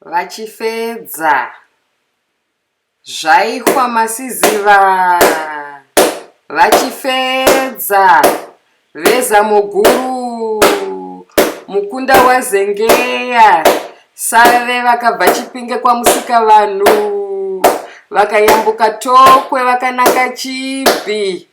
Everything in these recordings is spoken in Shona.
Vachifedza. Zvaihwa masiziva. Vachifedza. Veza muguru. Mukunda wazengeya. Save vakabva chipinge kwamusika vanhu. Vakayambuka tokwe vakananga chibhi.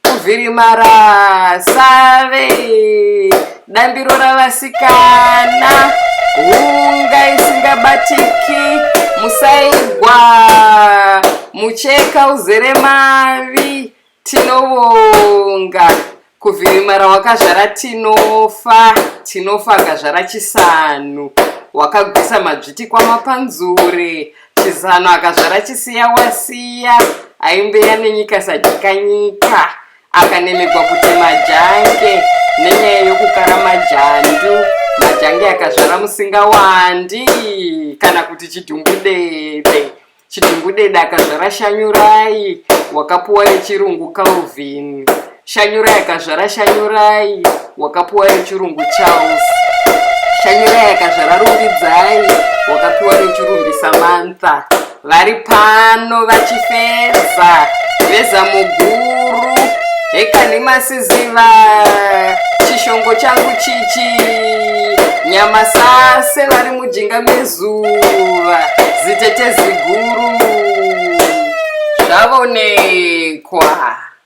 kuvhirimara save dambiro ravasikana hunga isingabatiki musaigwa mucheka uzere mavi tinovonga kuvhirimara wakazvara tinofa tinofa akazvara chisanhu wakagwisa madzviti kwamapanzure chizano akazvara chisiya wasiya aimbeya nenyika sadika nyika akanemegwa kuti majange nenyaya yokukara majandu majange akazvara musinga wandi kana kuti chidhumbudede chidhumbudede akazvara shanyurai wakapuwa yechirungu calvin shanyurai akazvara shanyurai wakapiwa nechirungu charles shanyurai akazvara rumbidzai wakapiwa nechirungu samantha vari pano vachifeza veza muguru hekani masiziva chishongo changu chichi nyamasase vari mujinga mezuva zitete ziguru zvavonekwa